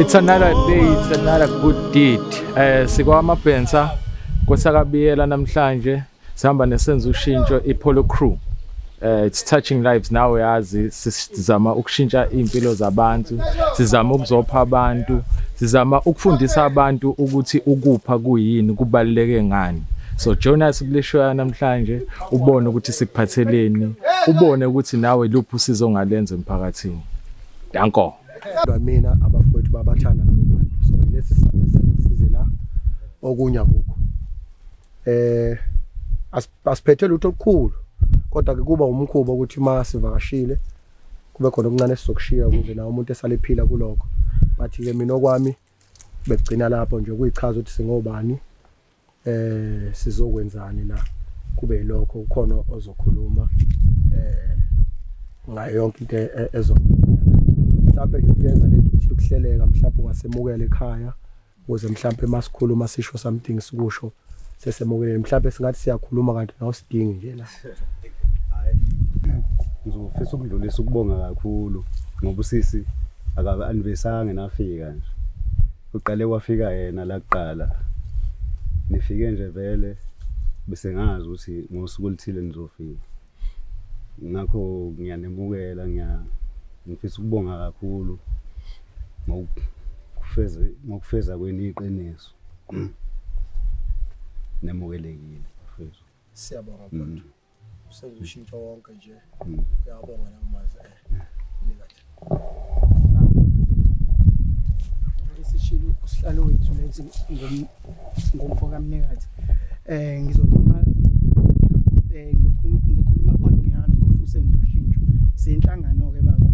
It's another day, it's another good deed. Eh sikwamabhensa kosakabiyela namhlanje Sihamba nesenza ushintsho iPolo Crew. Uh, it's touching lives now yazi sizama ukushintsha impilo zabantu sizama ukuzopha abantu sizama ukufundisa abantu ukuthi ukupha kuyini kubaluleke ngani so join us kuleshoya namhlanje ubone ukuthi sikuphatheleni ubone ukuthi nawe luphi usizo ongalenza emphakathini danko mina abafowethu babathanda labo bantu so lesi sizathu senzile la okunye akukho eh asiphethe lutho olukhulu kodwa ke kuba umkhuba ukuthi uma sivakashile kube khona okuncane sizokushiya ukuze nawo umuntu esalephila kuloko bathi ke mina okwami begcina lapho nje kuyichaza ukuthi singobani eh sizokwenzani la kube yilokho ukhona ozokhuluma eh ngayo yonke into e, e, ezokwenzeka mhlawumbe nje kuyenza lento ukuthi ukuhleleka mhlawumbe ungasemukela ekhaya ukuze mhlawumbe masikhuluma sisho something sikusho sesemukeleni mhlawumbe singathi siyakhuluma kanti nawusidingi nje la hayi ngizofisa ukudlulisa ukubonga kakhulu ngoba usisi akabe anivesanga nafika nje uqale wafika yena la kuqala nifike nje vele bese ngazi ukuthi ngosuku oluthile nizofika ngakho ngiyanemukela ngiya ngifisa ukubonga kakhulu ngokufeza ngokufeza kweni iqiniso nemukelekile mfethu siyabonga mfethu mm. senze ushintsho wonke nje mm. uyabonga namazi eh nikathi esishilo usihlalo wethu lethi ngomfo kamnikazi um ngizokhuluma um ngizokhuluma on behalf of usenza ushintsho siyinhlangano-ke baba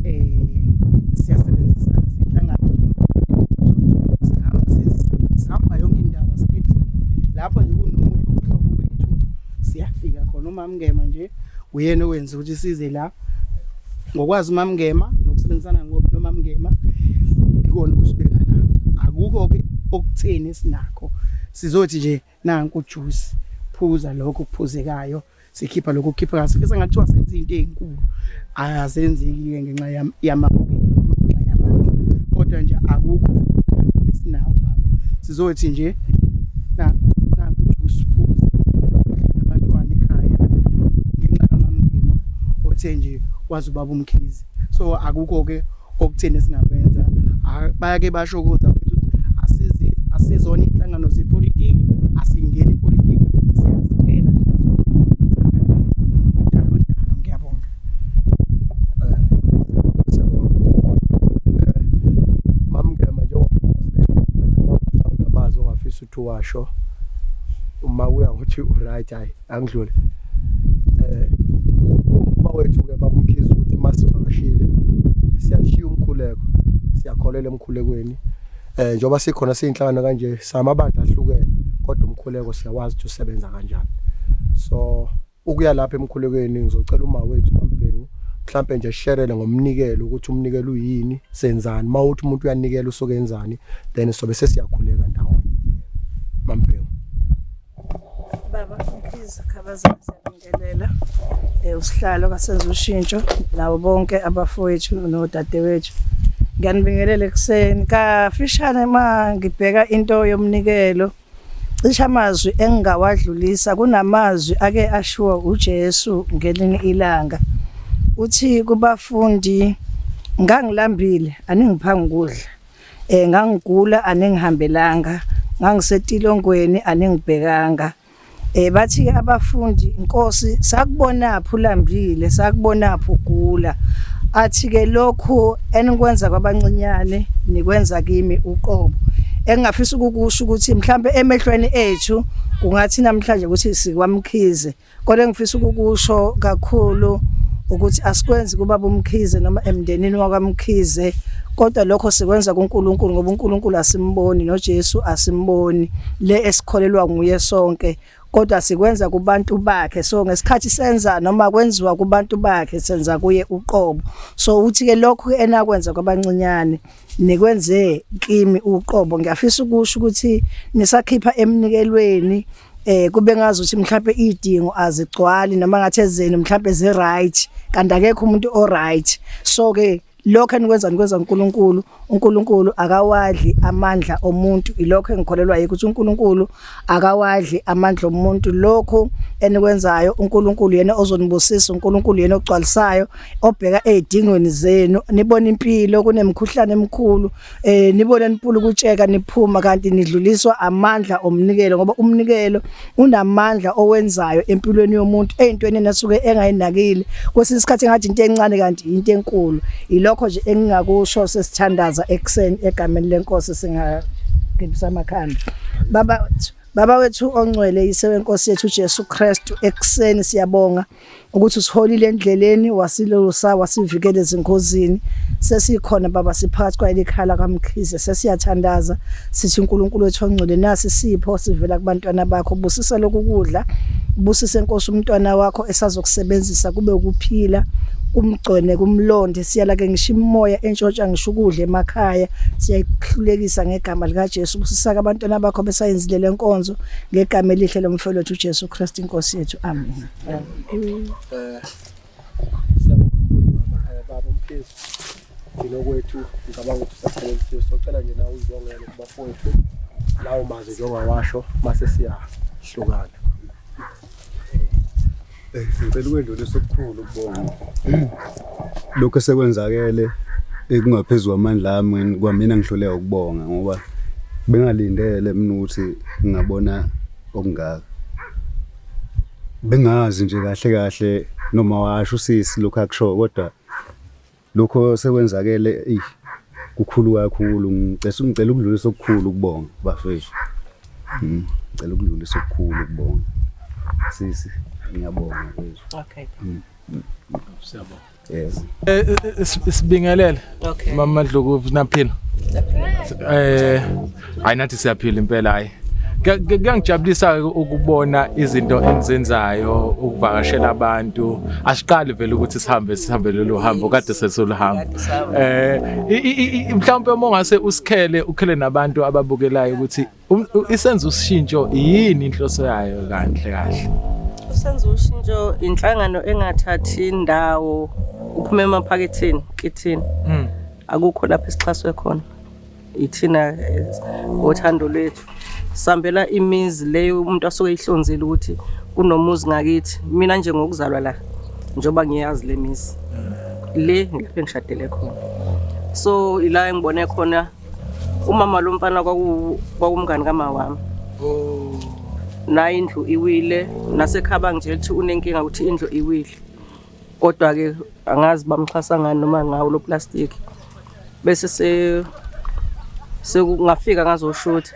um siyasebenzisana siyinhlangano sihamba yonke indaba sithi lapho nje kunomunye umhlobo wethu siyafika khona umamngema nje uyena owenza ukuthi size la ngokwazi uMamngema nokusebenzisana noMamngema ikona ukusibeka la akukho ke okutheni sinakho sizothi nje nanku juice phuza lokho kuphuzekayo sikhipha lokho kukhipha kahle sifisa ngathiwa senza into ezinkulu ayazenzeki ke ngenxa yamabukelo ngenxa yamandla kodwa nje akukho sizothi nje na usiphuze nabantwana ekhaya ngenxa kamamngima othe nje wazi ubaba umkhize so akukho ke okutheni esingakwenza bayake basho ukuthi ukuthi asizi asizona inhlangano zepolitiki asingeni ipolitiki siyaziphela ngiyabonga ngifisa ukuthi washo uma uya ngokuthi uright hayi angidlule eh uma wethu ke bamkhiza ukuthi masivakashile siyashiya umkhuleko siyakholela emkhulekweni eh njengoba sikhona siyinhlangano kanje samabandla ahlukene kodwa umkhuleko siyawazi ukuthi usebenza kanjani so ukuya lapha emkhulekweni ngizocela uma wethu mambhengu mhlambe nje sherele ngomnikelo ukuthi umnikelo uyini senzani mawuthi umuntu uyanikela usuke enzani then sobe sesiyakhuleka ndawo mambhengu baba please khabaza siyabingelela eh usihlalo kasenza ushintsho nabo bonke abafowethu nodadewethu ngiyanibingelela ekuseni kafishane uma ngibheka into yomnikelo Cishe amazwi engingawadlulisa kunamazwi ake ashiwo uJesu ngelinye ilanga. Uthi kubafundi ngangilambile aningipha ngikudla. Eh ngangigula aningihambelanga, ngangisetilongweni aningibhekanga. Eh bathi ke abafundi inkosi sakubonaphi ulambile sakubonaphi ugula athi ke lokhu enikwenza kwabancinyane nikwenza kimi uqobo engingafisa ukukusho ukuthi mhlambe emehlweni ethu kungathi namhlanje ukuthi sikwamkhize kodwa engifisa ukukusho kakhulu ukuthi asikwenzi kuba bomkhize noma emndenini wakwamkhize kodwa lokho sikwenza kuNkulunkulu ngoba uNkulunkulu asimboni noJesu asimboni le esikholelwa nguye sonke kodwa sikwenza kubantu bakhe so ngesikhathi senza noma kwenziwa kubantu bakhe senza kuye uqobo so uthi ke lokho enakwenza kwabancinyane nikwenze kimi uqobo ngiyafisa ukusho ukuthi nisakhipha emnikelweni eh kube ngazi ukuthi mhlawumbe idingo azigcwali noma ngathi ezeni mhlawumbe ze right kanti akekho umuntu o right so ke lokho enikwenza nikwenza uNkulunkulu uNkulunkulu akawadli amandla omuntu ilokho engikholelwa yikho ukuthi uNkulunkulu akawadli amandla omuntu lokho enikwenzayo uNkulunkulu yena ozonibusisa uNkulunkulu yena ogcwalisayo obheka ezidingweni zenu nibona impilo kunemkhuhlane emkhulu eh nibona nipula ukutsheka niphuma kanti nidluliswa amandla omnikelo ngoba umnikelo unamandla owenzayo empilweni yomuntu ezintweni enasuke engayinakile kwesinye isikhathi ngathi into encane kanti into enkulu ilokho nje engingakusho sesithandaza ekseni egameni lenkosi singagibisa amakhanda baba Baba wethu ongcwele yisewe Nkosi yethu Jesu Kristu ekseni siyabonga ukuthi usiholile endleleni wasilusa wasivikela ezingozini sesikhona baba siphakathi kwayelikhala kamkhize sesiyathandaza sithi uNkulunkulu wethu ongcwele nasi sipho sivela kubantwana bakho busisa lokukudla busise inkosi umntwana wakho esazokusebenzisa kube ukuphila kumgcone kumlonde siyala ke ngisho imoya entshontsha ngisho ukudla emakhaya siyayihlulekisa ngegama lika Jesu kusisaka abantwana bakho besayenzile lenkonzo ngegama elihle lomfowethu uJesu Kristu inkosi yethu amen Amen. Eh, baba umphezulu thina kwethu ngicabanga ukuthi usaphelelisiwe socela nje nawe uzibongele kubafowethu lawo mazwi njengawasho mase siyahlukana eh, ngicela ukwedlulisa okukhulu ukubonga lokho esekwenzakele ekungaphezu kwamandla ami kwamina ngihluleka ukubonga ngoba bengalindele mina ukuthi ngingabona okungaka bengazi nje kahle kahle noma washo usisi lokho akusho kodwa lokho sekwenzakele eyi kukhulu kakhulu ngicela ngicela ukudlulisa okukhulu kubonga bafethu hmm, ngicela ukudlulisa okukhulu kubonga sisi ngiyabonga bafethu okay hmm. siyabonga Yes. Eh, eh, eh, sibingelele. Okay. Mama Madluku naphila. Eh ayinathi siyaphila impela hayi. Kuyangijabulisa ukubona izinto enzenzayo ukuvakashela abantu. Asiqali vele ukuthi sihambe sihambe lolu hambo kade sesoluhamba. Eh mhlawumbe uma ungase usikhele ukhele nabantu ababukelayo ukuthi Um, isenza ushintsho yini inhloso yayo kanhle kahle? Usenza ushintsho inhlangano engathathi indawo uphume emaphaketheni kithina. Mm. Akukho lapho esixhaswe khona. Ithina ngothando lwethu. Sambela imizi leyo umuntu asuke ihlonzile ukuthi kunomuzi ngakithi. Mina nje ngokuzalwa la njoba ngiyazi lemizi. Le ngilapho engishadele khona. So ila engibone khona umama lo mfana kwakumngani kama wami oh. naye indlu iwile nasekhaba nje lithi unenkinga ukuthi indlu iwile kodwa-ke angazi bamxhasa ngani noma ngawo lo plastic bese sekungafika ngazoshutha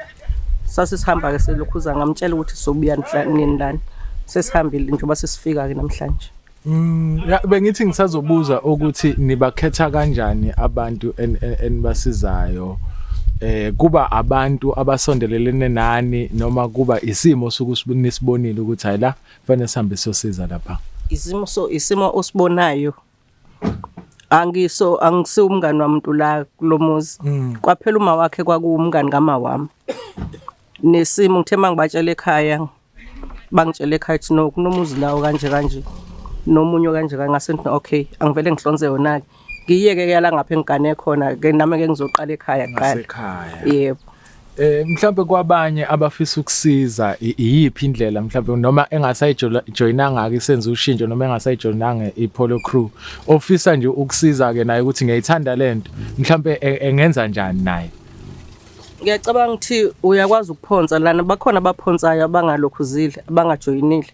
sase sihamba-ke selokhuza ngamtshela ukuthi sobuya nini lani sesihambile njengoba sesifika-ke namhlanje Mm, bengithi ngisazobuza ukuthi nibakhetha kanjani abantu enibasizayo eh kuba abantu abasondelelene nani noma kuba isimo sokusibonisibonile ukuthi hayi la fanele sihambe sosiza lapha isimo so isimo osibonayo angiso angisiwumngani wamuntu la kulomuzi mm. kwaphela uma wakhe kwakuwumngani kama wami nesimo ngithe mangibatshela ekhaya bangitshele ekhaya ukuthi no kunomuzi lawo kanje kanje nomunye kanje kangase ngithi okay angivele ngihlonze yona ke ngiyeke ke yala ngapha engigane khona ke nami ke ngizoqala ekhaya kuqala ekhaya yebo Eh mhlawumbe kwabanye abafisa ukusiza iyiphi indlela mhlawumbe noma engasayijoyinanga ke senza ushintsho noma engasayijoyinanga iPolo Crew ofisa nje ukusiza ke naye ukuthi ngiyayithanda lento mhlawumbe e, engenza njani naye ngiyacabanga ukuthi uyakwazi ukuphonsa lana bakhona abaphonsayo abangalokhuzile abangajoyinile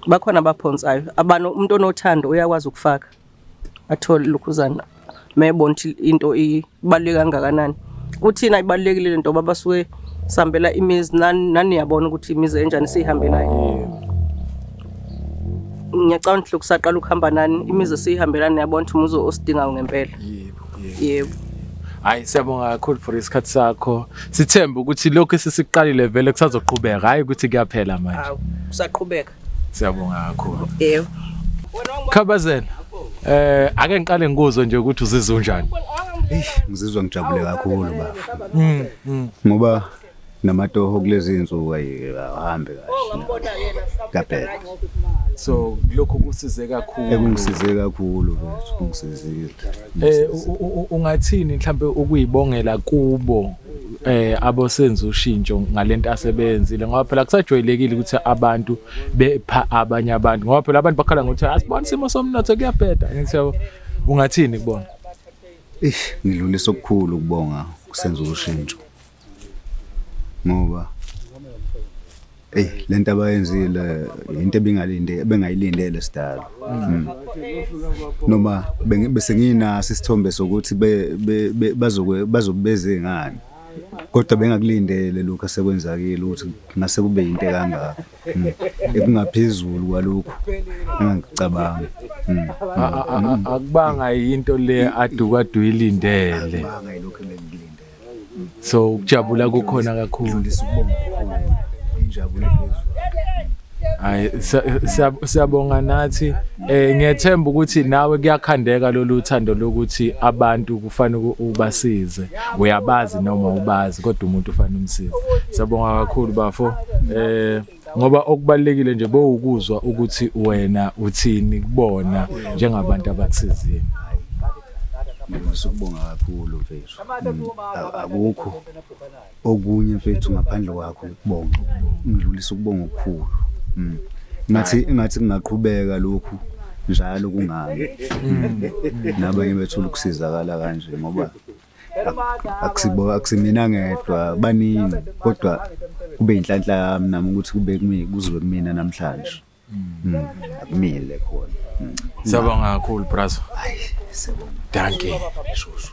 bakhona abaphonsayo abantu umuntu onothando uyakwazi ukufaka athole lokhuzana mebona ukuthi into ibaluleke kangakanani kuthina ibalulekile le nto babasuke sihambela imizi naniyabona ukuthi imizi enjani siyihambelayo ngiyacabanga ukuthi lokusaqala ukuhamba nani imizi esiyihambela niyabona ukuthi umuzi osidingayo ngempela yebo hayi siyabonga kakhulu for isikhathi sakho sithembe ukuthi lokhu esisiqalile vele kusazoqhubeka hayi ukuthi kuyaphela manje awu kusaqhubeka siyabonga kakhulu yebo khabazela eh ake ngiqale ngikuzwe nje ukuthi uzizwa unjani Eish, ngizizwa ngijabule kakhulu bafo ngoba namatoho kulezi insuku ahambe kahle so lokho kusize kakhulu ekungisize kakhulu mfethu kungisizile eh ungathini mhlambe ukuyibongela kubo eh abosenza ushintsho ngalento asebenzile ngoba phela kusajwayelekile ukuthi abantu bepha abanye abantu ngoba phela abantu bakhala ngokuthi asibona isimo somnotho kuyabheda ngithi yabo ungathini kubona ish ngidlulisa okukhulu kubonga kusenza ushintsho ngoba eyi le nto abayenzile yinto ebingalinde ebengayilindele sidalo mm. noma bese nginaso isithombe sokuthi bazobeze ngani kodwa bengakulindele lokhu asekwenzakile ukuthi ngase kube yinto ekangaka mm. ekungaphezulu kwalokhu engangicabanga mm. akubanga yinto le aduka aduyilindele so ukujabula kukhona kakhulu injabulo phezulu hayi siyabonga nathi eh ngiyethemba ukuthi nawe kuyakhandeka lolu thando lokuthi abantu kufanele ubasize uyabazi noma ubazi kodwa umuntu ufanele umsize siyabonga kakhulu bafo eh ngoba okubalekile nje bowukuzwa ukuthi wena uthini kubona njengabantu abakusizile ngifisa ukubonga kakhulu mfethu akukho okunye mfethu ngaphandle kwakho ukubonga ngidlulisa ukubonga okukhulu mm. ngathi ngathi kungaqhubeka lokhu njalo kungami mm. nabanye bethu ukusizakala kanje ngoba akusibo akusimina ngedwa baningi kodwa kube inhlanhla yami nami ukuthi kube kumi kuzobe kumina namhlanje hmm. Hmm. akumile khona hmm. siyabonga kakhulu brazo hayi siyabonga dankie shushu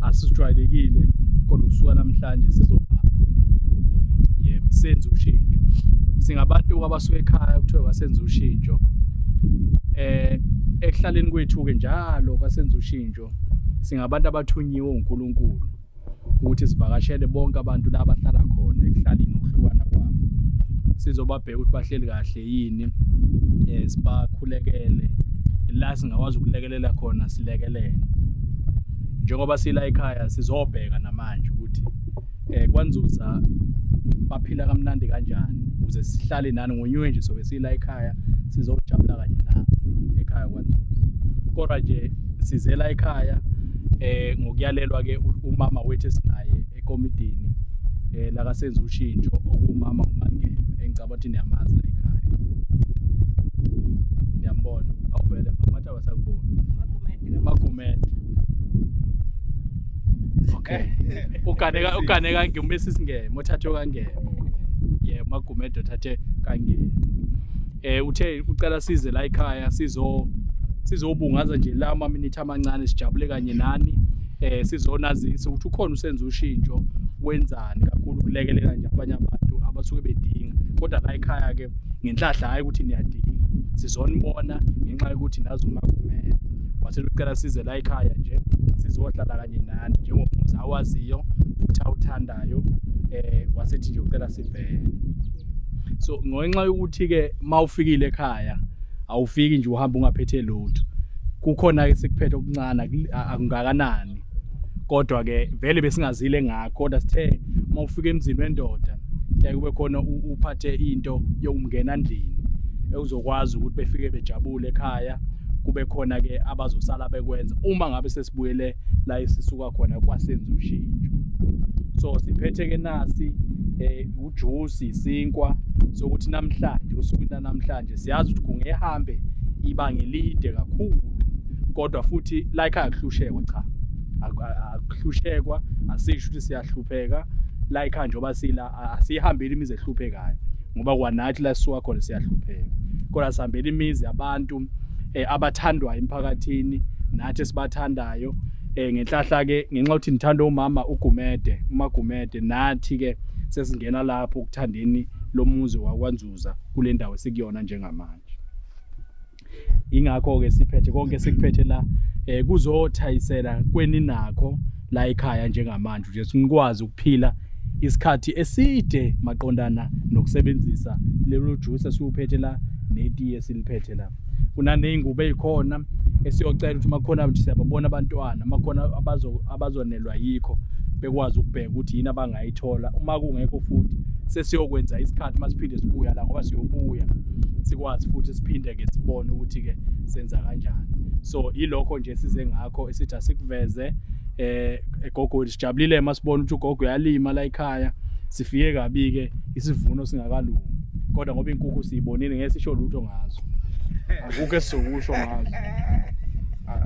asijwayelekile kodwa kusuka namhlanje sizobhaka yebo senze ushintsho singabantu abasuke ekhaya kuthiwa kwasenza ushintsho eh ekuhlaleni kwethu-ke njalo kwasenza ushintsho singabantu abathunyiwe uNkulunkulu ukuthi sivakashele bonke abantu la bahlala khona ekuhlaleni ukuhlukana kwabo sizobabheka ukuthi bahleli kahle yini eh sibakhulekele la singakwazi ukulekelela khona silekelele njengoba sila ekhaya sizobheka namanje ukuthi eh kwanzuza baphila kamnandi kanjani ukuze sihlale nani ngonywe nje sobe sila ekhaya sizojabula kanye la ekhaya kwanzuza kodwa nje sizela ekhaya eh ngokuyalelwa ke umama wethu esinaye ekomidini eh la kasenza ushintsho okumama umangeme engicabanga ukuthi niyamazi la ekhaya niyambona awuvele mama basakubona magumede okay uganeka uganeka ngumesi singeme uthathe kangeme yeah magumede uthathe kangeme eh uthe ucela size la ekhaya sizo sizobungaza nje la ama minute amancane sijabule kanye nani eh sizonazisa ukuthi ukhona usenza ushintsho wenzani kakhulu kulekelela nje abanye abantu abasuke bedinga kodwa la ekhaya ke ngenhlahla hhayi ukuthi niyadinga sizonibona ngenxa yokuthi nazi uma kumele wathi lucela size la ekhaya nje sizohlala kanye nani njengomuzi awaziyo futhi awuthandayo um eh, wasethi nje ucela sivele so ngenxa yokuthi-ke uma ufikile ekhaya awufiki nje uhamba ungaphethe lutho kukhona-ke sekuphethe okuncane akungakanani kodwa ke vele besingazile ngakho kodwa sithe uma ufika emzini wendoda kuyaye kube khona uphathe into yokumngena endlini ekuzokwazi ukuthi befike bejabule ekhaya kube khona ke abazosala bekwenza uma ngabe sesibuyele la esisuka khona kwasenza ushintsho so siphethe ke nasi eh ujuice isinkwa sokuthi namhlanje usuku namhlanje Siyazi ukuthi kungehambe ibanga elide kakhulu kodwa futhi like akuhlushekwa cha akuhlushekwa asisho ukuthi siyahlupheka like njengoba sila asihambeli imizi ehluphekayo ngoba kwanathi la sisuka khona siyahlupheka kodwa sihambela imizi yabantu eh, abathandwayo emphakathini nathi esibathandayo eh, ngenhlahla ke ngenxa ukuthi nithanda umama ugumede umagumede nathi ke sesingena lapho ukuthandeni lomuzi wakwanzulu ukuzuza kule ndawo esikuyona njengamanje ingakho-ke siphethe konke sikuphethe la um kuzothayisela kweninakho la ekhaya njengamanje nje sinikwazi ukuphila isikhathi eside maqondana nokusebenzisa lelo juice esiwuphethe la netiye siliphethe la kunaney'ngubo ey'khona esiyocela ukuthi uma khona nje siyababona abantwana uma khona abazonelwa yikho bekwazi ukubheka ukuthi yini abangayithola uma kungekho futhi sesiyokwenza isikhathi uma siphinde sibuya la ngoba siyobuya sikwazi futhi siphinde-ke sibone ukuthi-ke senza kanjani so yilokho nje size ngakho esithi asikuveze eh egogweni sijabulile masibona ukuthi ugogo uyalima la ekhaya sifike kabi-ke isivuno singakalungi kodwa ngoba inkukhu siyibonile ngeke sisho lutho ngazo akukho esizokusho ngazo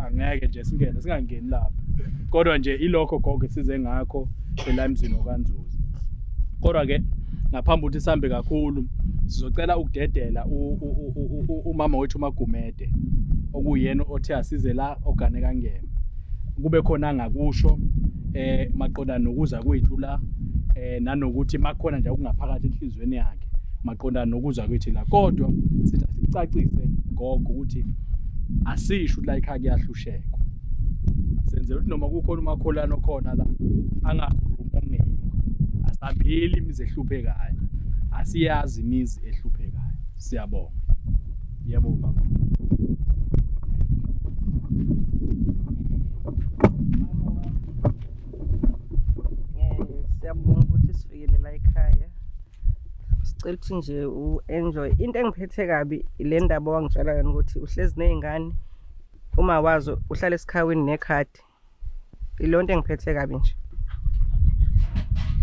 angeke nje singene singangeni lapho kodwa nje ilokho gogo size ngakho ela emzini okanzuzi kodwa ke ngaphambi ukuthi sihambe kakhulu sizocela ukudedela umama wethu umagumede okuyena othe asize la ogane kangema kube khona angakusho eh maqonda nokuza kwethu la eh nanokuthi makhona nje okungaphakathi enhlizweni yakhe maqonda nokuza kwethu la kodwa sithi sicacise gogo ukuthi asisho ukuthi la ikhaya kuyahlushekwa senzela ukuthi noma kukhona umakholana okhona la angakhulumi ongekho asambili imizi ehluphekayo asiyazi imizi ehluphekayo siyabonga Yebo baba. Siyabonga ukuthi sifikele la ekhaya. Sicela ukuthi nje u-enjoy. Into engiphethe kabi ile ndaba owangitshela yona ukuthi uhlezi nezingane uma wazo uhlala esikhawini nekhadi ilonto engiphethe kabi nje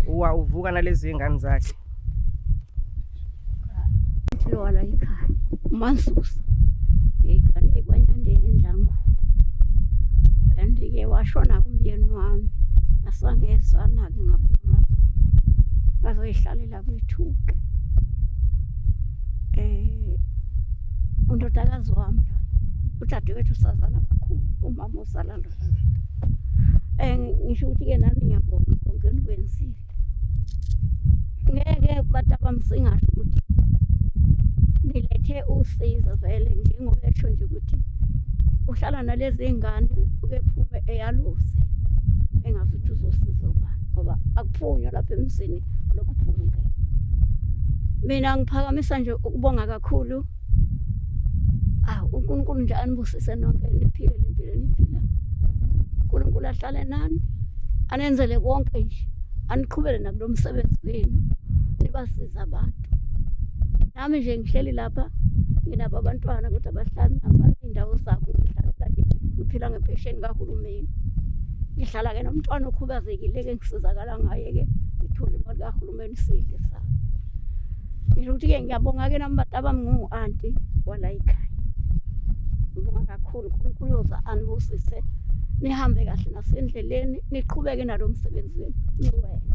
uwa uvuka nalezi ingane zakhe lona ikhaya umansusa ngigane ekwanyandeni endlangu and ke washona kumyeni wami asangezana-ke ngabe ngazoyihlalela abethuke eh undodakazi wami lo udadewethu sazana kakhulu umama osala lo eh ngisho ukuthi ke nami ngiyabonga konke enikwenzile ngeke abantu abamsingasho ukuthi nilethe usizo vele njengoba esho nje ukuthi uhlala nalezi ngane uke phume eyaluze engazi ukuthi uzosiza ubani ngoba akuphunywa lapha emzini lokhu phunge mina ngiphakamisa nje ukubonga kakhulu ah uNkulunkulu nje anibusise nonke niphile lempilo niphila uNkulunkulu ahlale nani anenzele konke nje aniqhubele nakulo msebenzi wenu nibasiza abantu nami nje ngihleli lapha nginabo abantwana kodwa bahlala nabaindawo zabo ngihlalela nje ngiphila ngempesheni kahulumeni ngihlala-ke nomntwana okhubazekile-ke ngisizakala ngiyabonga ngaye-ke ngithole imali kahulumeni sidle sami ngisho ukuthi-ke ngiyabonga-ke nami bantu abami ngingu-anti wala yikhaya ngibonga kakhulu unkulunkulu yoza anibusise nihambe kahle nasendleleni niqhubeke nalo msebenzi wenu niwenze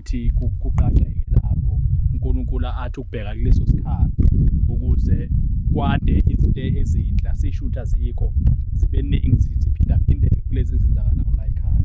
ukuthi kuqaqeke lapho uNkulunkulu athi ukubheka kuleso sikhathi ukuze kwande izinto ezinhla sishutha zikho zibe ningi ziphindaphindeke kulezi zenzakalayo la ekhaya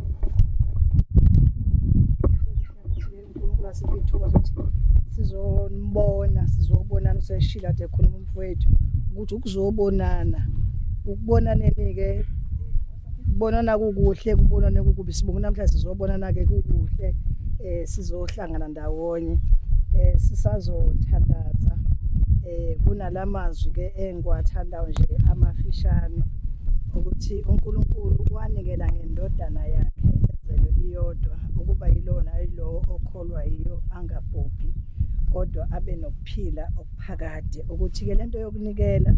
sizombona sizobonana useshila ade khuluma umfowethu ukuthi ukuzobonana ukubonaneni-ke kubonana kukuhle kubonane kukubi sibonga namhlanje sizobonana-ke kukuhle um sizohla ukuhlangana ndawonye eh sisazothandaza eh kunalamazwi ke engiwathandayo nje amafishane ukuthi uNkulunkulu wanikela ngendodana yakhe enzelwe iyodwa ukuba yilona ayilowo okholwa yiyo angabhubhi kodwa abe nokuphila okuphakade ukuthi ke lento yokunikela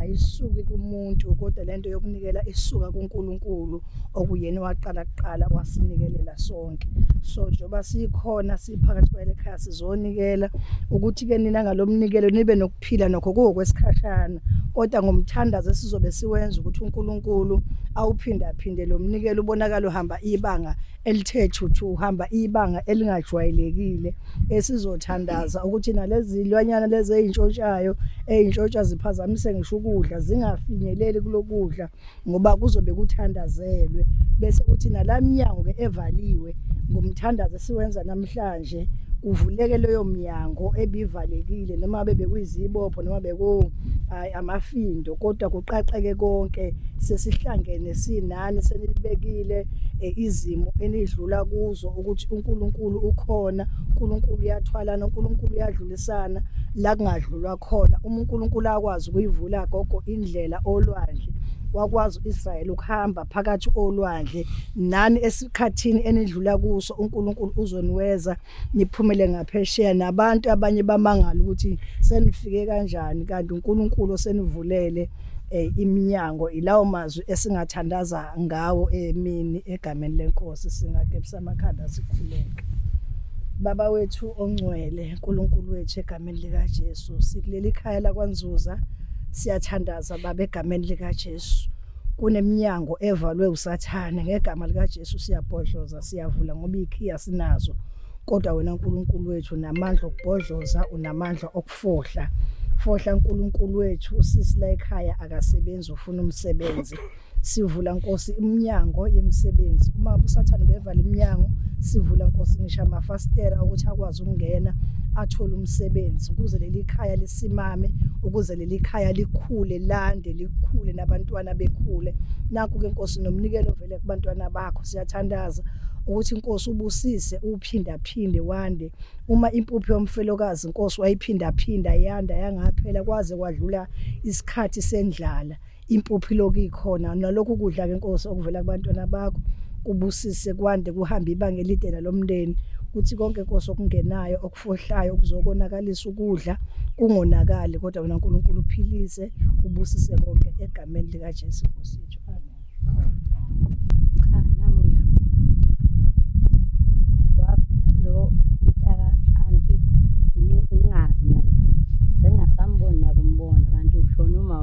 ayisuki kumuntu kodwa lento yokunikela isuka kuNkulunkulu okuyena waqala kuqala wasinikelela sonke so njengoba sikhona siphakathi kwale khaya sizonikela ukuthi-ke nina ngalo mnikelo nibe nokuphila nokho kuwokwesikhashana kodwa ngomthandazo esizobe siwenza ukuthi unkulunkulu awuphindaphinde lo mnikelo ubonakala uhamba ibanga elithe thuthu uhamba ibanga elingajwayelekile esizothandaza ukuthi nalezi zilwanyana lezi ey'ntshontshayo ey'ntshontsha ziphazamise ngisho ukudla zingafinyeleli kulokudla ngoba kuzobe kuthandazelwe bese kuthi nalamnyango ke evaliwe ngomthandazo esiwenza namhlanje kuvuleke leyo mnyango ebivalekile noma bebekuyizibopho noma beku hayi amafindo kodwa kuqaqeke konke sesihlangene sinani senibekile eh, izimo enidlula kuzo ukuthi uNkulunkulu ukhona uNkulunkulu uyathwalana uNkulunkulu uyadlulisana la kungadlulwa khona uma uNkulunkulu akwazi ukuyivula gogo indlela olwandle wakwazi uIsrael ukuhamba phakathi olwandle nani esikhathini enidlula kuso uNkulunkulu uzoniweza niphumele ngaphesheya nabantu abanye bamangala ukuthi senifike kanjani kanti uNkulunkulu osenivulele eh, iminyango ilawo mazwi esingathandaza ngawo emini egameni lenkosi singakepsa amakhanda sikhuleke baba wethu ongcwele uNkulunkulu wethu egameni egameni likaJesu sikuleli khaya lakwanzuza siyathandaza baba egameni likaJesu kuneminyango evalwe usathane ngegama likaJesu siyabhodloza siyavula ngoba ikhiya sinazo kodwa wena uNkulunkulu wethu namandla okubhodloza unamandla okufohla fohla uNkulunkulu wethu usisi la ekhaya akasebenzi ufuna umsebenzi sivula nkosi iminyango yemisebenzi uma usathane bevala iminyango sivula nkosi ngisho amafasitela ukuthi akwazi ukungena athole umsebenzi ukuze leli khaya lisimame ukuze leli khaya likhule lande likhule nabantwana bekhule naku ke nkosi nomnikelo vele kubantwana bakho siyathandaza ukuthi inkosi ubusise uphindaphinde wande uma impupho yomfelokazi inkosi wayiphindaphinda yanda yangaphela kwaze kwadlula isikhathi sendlala impuphi lokhu ikhona nalokhu kudla ke inkosi okuvela kubantwana bakho kubusise kwande kuhambe ibanga elide nalomndeni kuthi konke inkosi okungenayo okufohlayo okuzokonakalisa ukudla kungonakali kodwa wena uNkulunkulu uphilise ubusise konke egameni lika Jesu Nkosi yethu amen cha nami ngiyabonga lo mtaka anti ngingazi nami sengasamboni nakumbona kanti ushona uma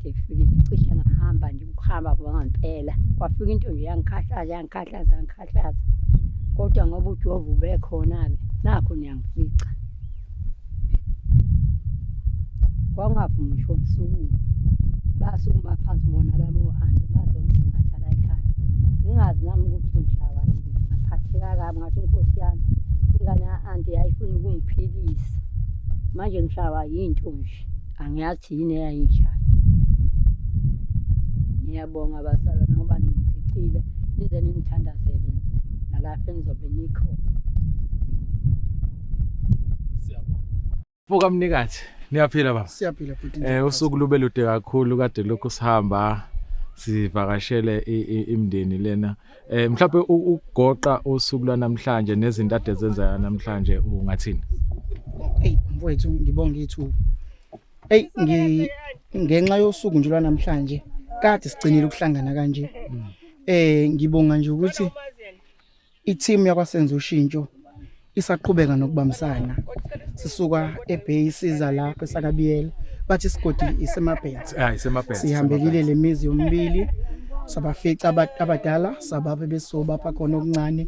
Ngifikile cishe ngahamba nje ukuhamba kwangempela. Kwafika into nje yangikhathaza yangikhathaza yangikhathaza. Kodwa ngoba uJehova ubekhona-ke nakho niyangifica. Kwangavumi ngisho ngisukume. Basukuma phansi bona labo hande bazongisingatha la ekhaya. Ngingazi nami ukuthi ngishawa yini. Ngaphatheka kabi ngathi inkosi yami ingane ya-anti yayifuna ukungiphilisa. Manje ngishawa yinto nje. angiyazi yini eyayinjalo ngiyabonga abasala ngoba ningificile nize ningithandazele nalapho engizobe nikhona Buka mnikazi, niyaphila baba. Siyaphila bhuti. Eh usuku lube lude kakhulu kade lokhu sihamba sivakashele i- i- imndeni lena Eh mhlawumbe ukugoqa usuku lwanamhlanje nezinto ade zenzeka namhlanje ungathini? Hey mfowethu ngibonga ithuba. Hey ngi ngenxa yosuku nje lwanamhlanje kade sigcinile ukuhlangana kanje. Eh ngibonga nje ukuthi i-team yakwasenza ushintsho isaqhubeka nokubambisana sisuka eBay siza lapha esakabiyela bathi isigodi isemabhenzi ah isemabhenzi sihambelile lemizi yomibili sabafica abadala sabaphe besobapha khona okuncane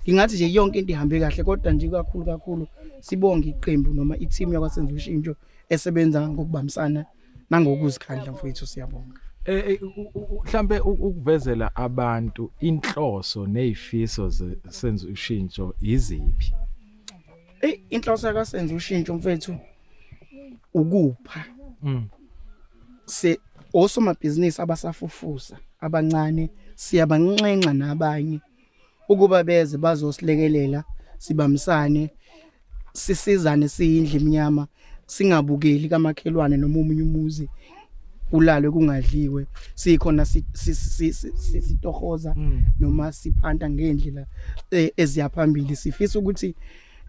ngingathi nje yonke into ihambe kahle kodwa nje kakhulu kakhulu sibonge iqembu noma i-team yakwasenza ushintsho esebenza ngokubambisana nangokuzikhandla mfowethu siyabonga eh, eh mhlambe ukuvezela abantu inhloso nezifiso senze ushintsho iziphi eh inhloso yakasenze ushintsho mfethu ukupha mm. se osomabhizinisi abasafufusa abancane siyabanxenxa nabanye ukuba beze bazosilekelela sibamsane sisizane siyindle emnyama singabukeli kamakhelwane noma omunye umuzi kulalwe kungadliwe sikhona sitohoza mm. noma siphanta ngendlela e, eziyaphambili sifisa ukuthi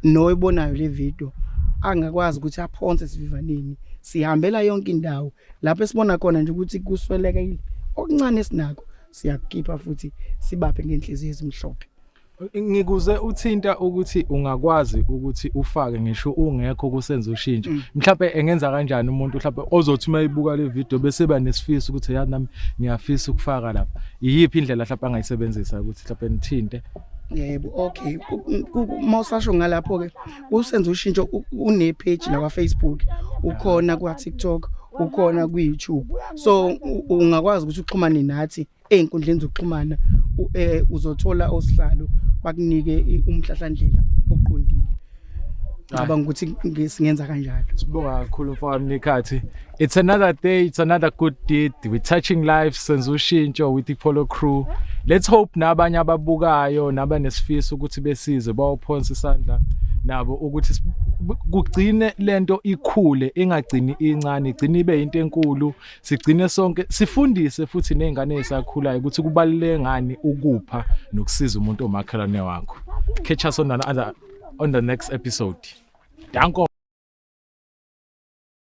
noyibonayo le video angakwazi ukuthi aphonse sivivaneni sihambela yonke indawo lapho esibona khona nje ukuthi kusweleka okuncane sinako siyakukhipha futhi sibaphe ngenhliziyo ezimhlophe ngikuze uthinta ukuthi ungakwazi ukuthi ufake ngisho ungekho kusenza ushintsho mm. mhlawumbe engenza kanjani umuntu mhlawumbe ozothi uma ibuka le video bese ba nesifiso ukuthi yazi nami ngiyafisa ukufaka lapha iyiphi indlela mhlawumbe angayisebenzisa ukuthi mhlawumbe nithinte yebo okay mawusasho ngalapho ke usenza ushintsho une page la kwa Facebook ukhona kwa TikTok ukhona ku YouTube so ungakwazi ukuthi uxhumane nathi einkundleni zokuxhumana eh, uzothola osihlalo bakunike umhlahlandlela oqondile ngicabanga ukuthi singenza kanjalo sibonga kakhulu mfowethu nekhathi It's another day, it's another good deed. We're touching lives senza ushintsho with iPolo crew. Let's hope nabanye ababukayo nabanesifiso ukuthi besize bawophonsa isandla nabo ukuthi si- bu- kugcine lento ikhule ingagcini incane igcine ibe into enkulu sigcine sonke sifundise futhi nezingane ezisakhulayo ukuthi kubaluleke ngani ukupha nokusiza umuntu omakhelwane wakho. Catch us on another on the next episode. Danko